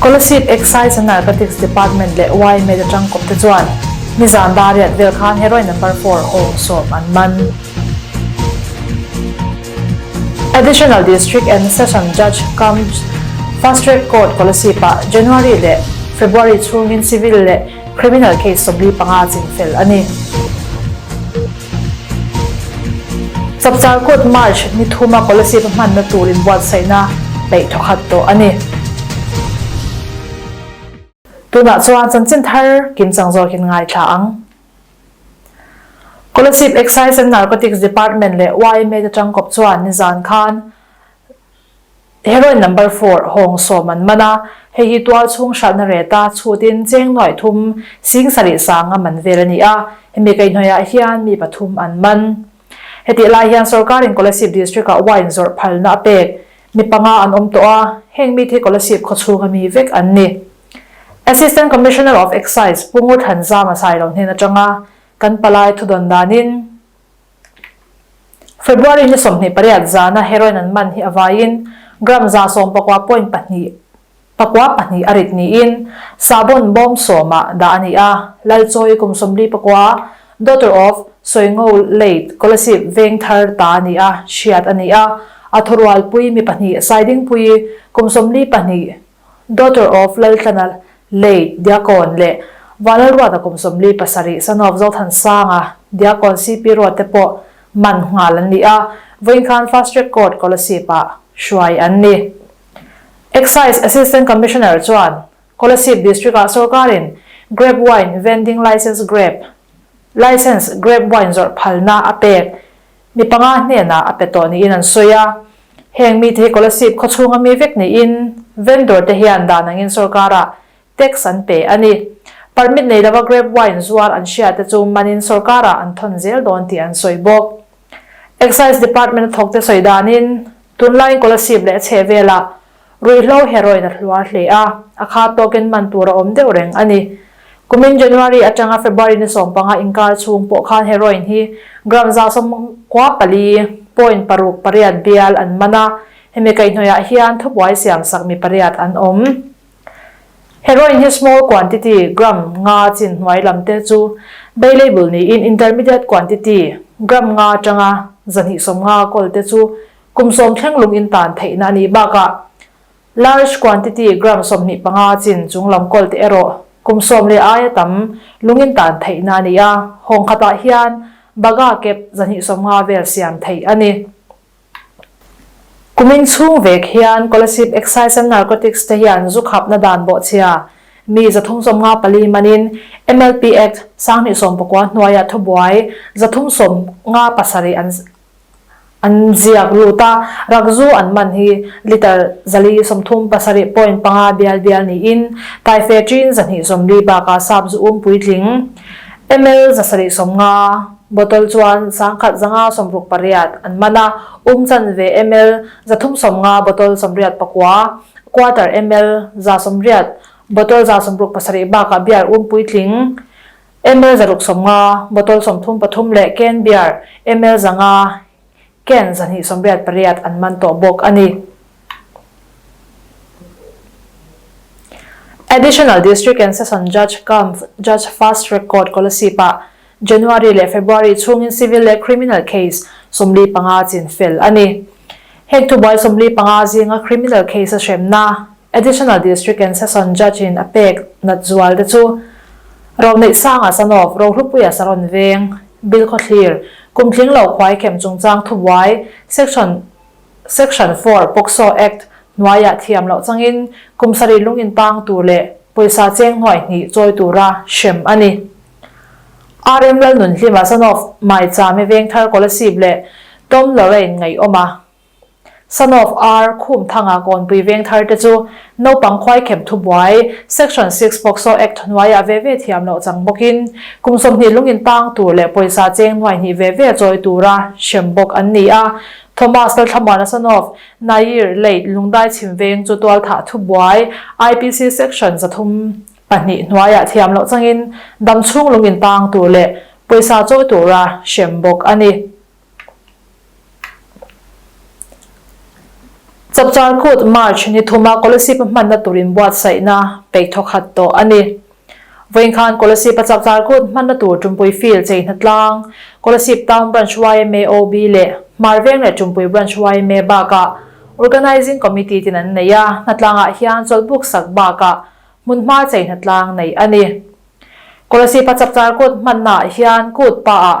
Scholarship, Excise and Narcotics Department leh YMED atang kawpte chuan nizan dariat vel khan Heroin Number Four awng sawm an man. Additional District and Session Judge cum Fast Track Court Scholarship-ah January leh February chhungin Civil leh Criminal case sawmli panga chin fel a ni. Chapchar Court March ni thuma Policy va hmanna turin buatsaihna peih thawkhat tawh a ni. Tunah chuan chanchin thar kim chang zawkin ngaithla ang. Kolasib Excise and Narcotics Department leh YMA te tangkawp chuan nizan khan Heroine number four hawng sawm an man a, hei hi tual chhung hralhna reta chhutin cheng nuai thum sing sarih sanga man vel a ni a, hemi keihnawihah hian mi pathum an man. Hetih lai hian sawrkarin Kolasib District-ah wine zawrh phalna a pek mi panga an awm tawh a, heng mit hi Kolasib khawchhunga mi vek an ni. Assistant Commissioner of Excise Pungurthlan Zama Sailo hnen atanga kan palai thudawn danin February ni sawmhnih pariat zana heroin an man hi a vaiin gram za sawm pakua point pahnih pakua pahnih a rit niin sahbawn bawm sawmah dah a ni a, Lalchawi kum sawmli pakua, daughter of Sawingo late Kolasip Vengthar ta a ni a, hriat a ni a, a thurualpui mi pahnih Saidingpui kum sawmli pahnih, Daughter of Laltlana late Diakon leh Vanlalruata kum sawmli pasarih Son of Zothansanga Diakon CP Ruat te pawh man nghal an ni a, vawiin khan Fast Track Court Kolasib ah hruai an ni. Excise Assistant Commissioner chuan Kolasib District ah sorkarin Grape Wine Vending License Grape License Grape Wine zawrh phalna a pek Mi panga hnenah a pe tawh niin an sawi a. Heng mite hi Kolasib khawchhunga mi vek niin vendor te hian dan angin sorkara tax an pe a ni. Permit nei lova grape wine zuar an hria te chu manin sorkara an thawn zel dawn tih an sawi bawk. Excise Department a thawkte sawi danin tunlaiin Kolasib leh a chhehvelah Ruihhlo heroin a hluar hle a, a kha token man tur a awm deuh reng a ni. Kumin January atanga February ni sawm panga inkar chhung pawh khan heroin hi gram zahsawm kua pali, point paruk pariat bial, an man a, hemi kaihhnawihah hian thubuai siam sak mi pariat an awm. Heroin hi small quantity, gram nga chin hnuai lam te, chu bailable niin intermediate quantity, gram nga tanga zahnihsawm nga gold te chu Kum sawm thleng lung in tan theihna nih bakah large quantity gram sawmhnih panga chin chung lam kawl te erawh kum sawm leh aia tam lung in tan theihna ni a, hawng khatah hian baga kep zahnih sawm nga vel siam theih a ni. Kumin chhung vek hian Kolasib Excise and Narcotics te hian zu khapna dan bawhchhia mi zathum sawm nga pali manin MLP Act sanghnih sawm pakua hnuaia thubuai zathum sawm nga pasarih an an ziak lut a, rak zu an man hi litre zali sawmthum pasarih point panga bial bial niin Taiphe ṭin zahnih sawmli bakah sap zu um puitling, ml zasarih sawmnga, bottle chuan sangkhat zanga sawmruk pariat an man a, um chan ve ml zathum sawmnga, bottle sawmriat pakua, quarter ml za sawmriat, bottle za sawmruk pasarih bakah bial um puitling, Ml zaruk sawmnga, bottle sawmthum pathum leh can beer ml zanga, can zahnih sawmriat pariat an man tawh bawk a ni. Additional District and Session Judge Kampf, Judge Fast Track Court Kolasib-ah January leh February chhungin civil leh criminal case sawmli panga chin fel a ni. Heng thubuai sawmli panga zinga criminal case-a hremna, Additional District and Session Judge-in a pek nat zual te chu Roneih Sanga Sanof, Rohlupuia Saron Veng, Bil Khawthlir, Kumtling Lo Khuai Khem Chungchang Thubuai, Section Section four, Pokso Act, hnuaiah thiam loh changin kum sarih lungin tang tur leh pawisa cheng hnuai hnih chawi tura hrem a ni. RM Lalnunhlima Sanof, Maichame Vengthar Kolasib leh Tom Lorraine Ngaiawma, Son of Ar, Khumthanga Kawnpui Vengthar te chu Naupang Khuaikhep Thubuai, Section six Pokso Act hnuaiah ve ve thiam loh chang bawkin kum sawmhnih lungin tang tur leh pawisa cheng nuai hnih ve ve chawi tura hrem bawk an ni a. Thomas Lalthamuana son of Nair late Lungdai Chhimveng chu Tualthah Thubuai, IPC Section za thum pahnih hnuaiah thiam loh changin dam chhung lungin tang tur leh pawisa chawi tura hrem bawk a ni. Chapter kut March ni thuma Kolaseepa hmanna turin buatsaihna peih thawk khat tawh a ni. Vawiin khan Kolaseepa chapter kut hmanna tur ṭumpui field chei hna tlang Kolasib Town Branch yma OB leh Hmarveng leh Ṭumpui Branch yma bakah Organising Committee ten an nei a, hna tlangah hian chawlhbuk sak bakah hmunhma chei hna tlang nei a ni. Kolaseepa chapter kut hmannaah hian kut pa ah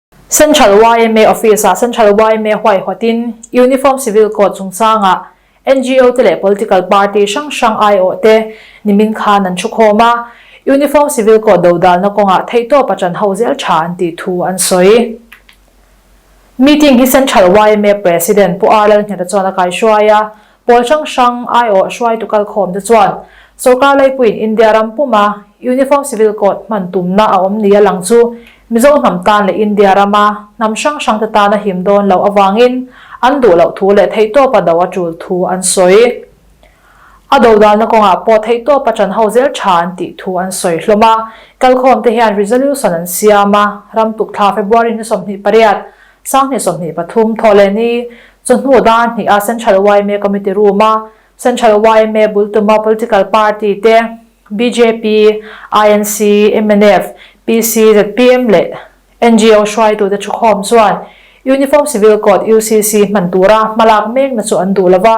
Central yma office ah Central yma huaihawt in Uniform Civil Code chungchang ah NGO te leh political party hrang hrang aiawh te nimin khan an thu khawm a, Uniform Civil Code dodalna kawng ah theihtawp a tan ho zel tha an tih thu an sawi. Meeting hi Central yma President Pu Arlalhniata chuan a kaihruai a, Pawl hrang hrang aiawh hruaitu kalkhawm te chuan sorkar leipuiin India ram puma Uniform Civil Code hman tumna a awm nia lang chu Mizo hnam tan leh India rama hnam hrang hrang te tana him dawn loh avangin an duh loh thu leh theihtawpa do a tul thu an sawi a, dodalna kawngah pawh theihtawpa tan ho zel tha an tih thu an sawi hlawm a, kalkhawm te hian resolution an siam a, ram tukthla February hnaw sawmhnih pariat. Sanghnih sawhnih pathum, Thawhleni chu hnu dar hnih a Central yma Committee Room a, Central yma bul tuma Political Party te, bjp, INC, mnf, PC, zpm leh NGO hruaitu te thukhawm chuan Uniform Civil Code, UCC, hman tura hmalak mekna chu an duh lova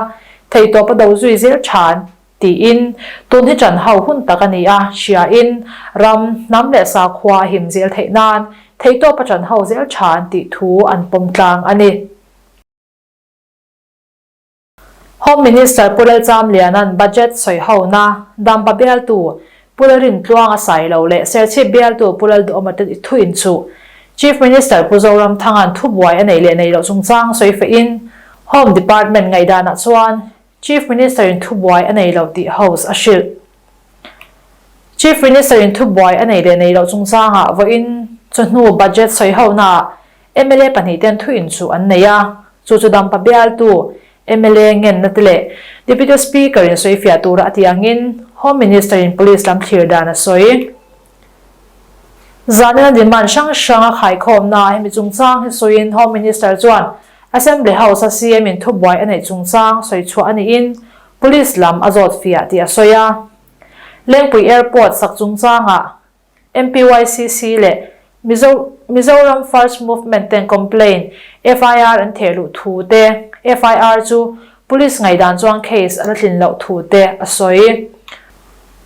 thei tawpa do zui zir tha an Tiin, tun hi ṭan hau hun tak a ni a, hriain, ram, hnam leh sakhua a him zel theih nan, theihtawp a ṭan hau zel ṭha an tih thu an pawm tlang a ni. Home Minister Pu Lalchamliana'n Budget sawi hona dampa bialtu Pu Lalrintluang a sai lo leh Serchhip bialtu Pu Laldawhmata'n i thu inchuh Chief Minister Pu Zoramthanga'n thubuai a nei leh nei loh chungchang sawi fahin Home Department ngaihdanah chuan Chief Minister in thubuai a nei lo tih House a hrilh. Chief Minister in thubuai a nei leh nei loh chungchangah vawiin chu hnu Budget sawihonaah mla pahnih ten thu in chu an nei a, chu chu dampa bialtu, mla ngenna te leh Deputy Speaker in sawifiah tura a ti angin Home Minister in Police lam thlir dan a sawi. Zanina demand hrang hranga khaikhawmna ah hemi chungchang hi sawiin Home Minister chuan Assembly House a CM in thubuai a neih chungchang sawi chhuah a niin Police lam a zawt fiah tih a sawi a. Lengpui Airport sak chungchangah MPYCC leh Mizo Mizoram First Movement ten complaint, FIR, an thehluh thu te, FIR, chu Police ngaihdan chuan case a la tlin loh thu te a sawi.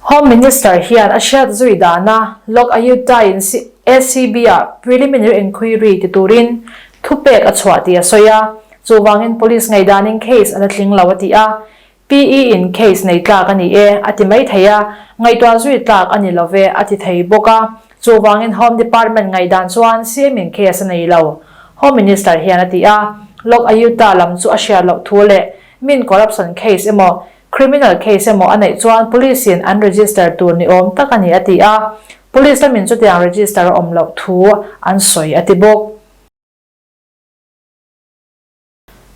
Home Minister hian a hriat zui dana Lok Ayut Dai'n ACB-a preliminary enquiry ti turin thupek a chhuah tih a sawi a. Chuvangin Police ngaihdanin case a la tling lo a ti a. PE-in case nei tlak a ni e a ti mai thei a, ngaihtuah zui tlak a ni lo ve a ti thei bawk a, Chuvangin Home Department ngaihdan chuan siamin case a nei lo, Home Minister hian a ti a. Lok Ayuta lam chu a hriat loh thu leh min corruption case emaw, criminal case emaw a neih chuan police-in an register tur ni awm tak a ni a ti a. Police lamin chutiang register a awm loh thu an sawi a ti bawk.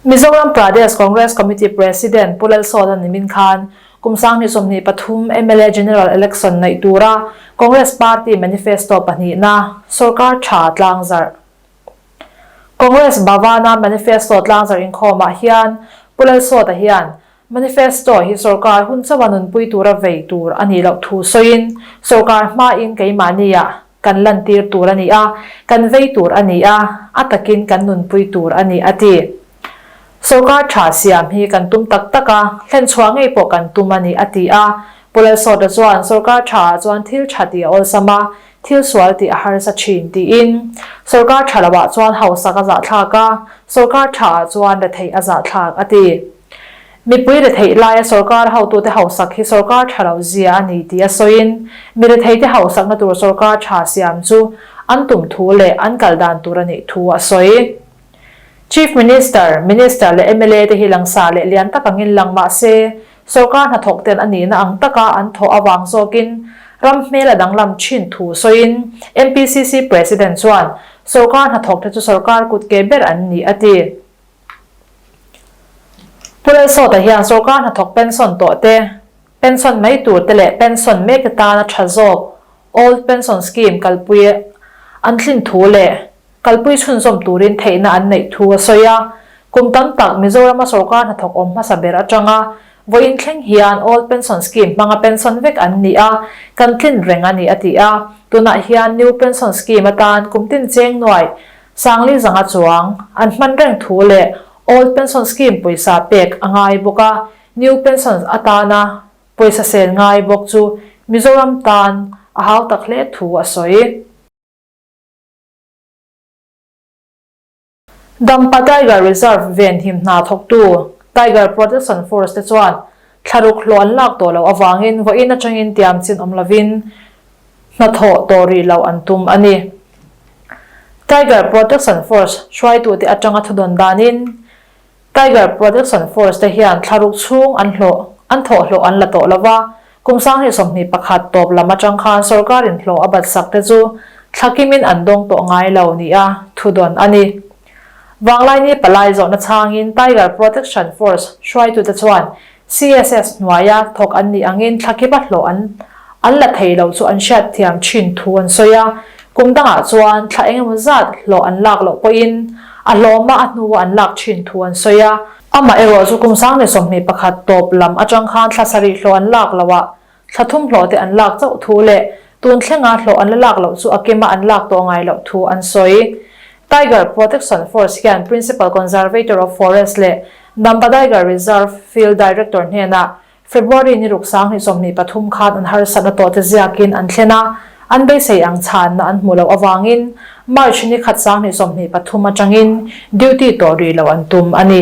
Mizoram Pradesh Congress Committee President Pu Lalsawta nimin khan kum sang hnih sawmhnih pathum mla general election ngaih tura Congress party manifesto pahnihna sawrkar tha tlangzarh Congress Bhavan a manifesto tlangzarh inkhawmah hian Pu Lalsawta hian Manifesto hi sorkar hun chauh a nunpui tura vei tur a nih loh thu sawiin sorkar hmain keimahnia kan lantir tur a ni a, kan vei tur a ni a, a takin kan nunpui tur a ni, a ti. Sorkar tha siam hi kan tum tak tak a, hlen chhuah ngei pawh kan tum a ni, a ti a. Pu Lalsawta chuan sorkar tha ah chuan thil tha tih a awlsam a, thil sual tih a harsa thin tiin sorkar tha lo ah chuan hausak a zahthlak a, sorkar tha ah chuan retheih a zahthlak, a ti. Mipui retheih laia sorkar hotute hausak hi sorkar tha lo zia a ni tia sawiin, mi retheite hausakna tur sorkar tha siam chu an tum thu leh an kal dan tur a nih thu a sawi. Chief Minister, Minister leh mla te hi langsar leh lian tak ang in lang mah se, sorkar hnathawk ten a nihna ang taka an thawh avang zawkin ram hmel a danglam thin thu sawiin MPCC President chuan sorkar hnathawk te chu sorkar kut ke ber an ni a ti. Pu Lalsawta hian sorkar hnathawk pension tawh te, pension mai tur te leh pension mek te tana tha zawk Old Pension Scheme kalpui an thlin thu leh kalpui chhunzawm turin theihna an neih thu a sawi a. Kum tam tak Mizorama sorkar hnathawk awm hmasa ber atanga vawiin thleng hian Old Pension Scheme hmanga pension vek an ni a, kan tlin reng a ni a ti a. Tunah hian New Pension Scheme atan kum tin cheng nuai Sangli zanga chuang an hman reng thu leh Old Pension Scheme pawisa pek a ngai bawk a, New Pension atana pawisa sel ngai bawk chu Mizoram tan a hau tak hle thu a sawi. Dampa Tiger Reserve ven him hna thawktu Tiger Protection Force te chuan thlaruk hlawh an lak tawh loh avangin vawiin atangin tiam chin awm lovin hnathawh tawh rih loh an tum a ni. Tiger Protection Force hruaitute atanga thudawn danin Tiger Protection Force te hian thlaruk chhung an hlawh, an thawh hlawh an la tawh lo va, kum sang hnih sawmhnih pakhat tawp lam atang khan sorkarin hlawh a batsak te chu thlakimin an dawng tawh ngai lo nia thudawn a ni. Vanglaini palai zawhna changin Tiger Protection Force hruaitute chuan CSS hnuaia thawk an nih angin thlakip a hlawh an an la thei loh chu an hriat thiam thin thu an sawi a. Kum dangah chuan thla eng emaw zat hlawh an lak loh pawhin a hlawma a hnu a an lak thin thu an sawi a. Amaherawhchu kum sang leh sawmhnih pakhat tawp lam atang khan thla sarih hlawh an lak loh a Thla thumhlawhte an lak chauh thu leh tun thlenga hlawh an la lak loh chu a kema an lak tawh ngai loh thu an sawi. Tiger Protection Force hian Principal Conservator of Forest leh Nambadaiga Reserve Field Director hnenah February ni ruk sang hnih sawmhnih pathum khan an harsatna tawhte ziakin an thlen a, an beisei ang chhanna an hmuh loh avangin March ni khat sang hnih sawmhnih pathum atangin duty tawh rih loh an tum a ni.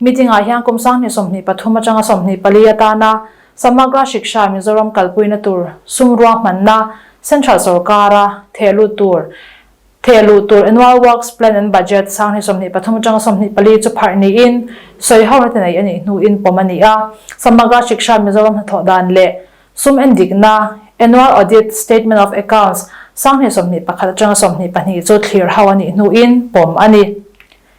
Meeting ah hian kum sangni sawmhnih pathum atanga sawmhnih pali atana Samagra Shiksha Mizoram kalpuina tur sum ruang hmanna Central sawrkara theh lut tur theh luh tur Annual Works Plan and Budget sangni sawmhnih pathum atanga sawmhnih pali chu pharh niin sawi ho na tinei anih hnuin pawm ani a Samagra Shiksha Mizoram hnathawh dan leh sum endikna Annual Audit Statement of Accounts sangni sawmhnih pakhat atanga sawmhnih pahnih chu thlir ho anih hnuin pawm ani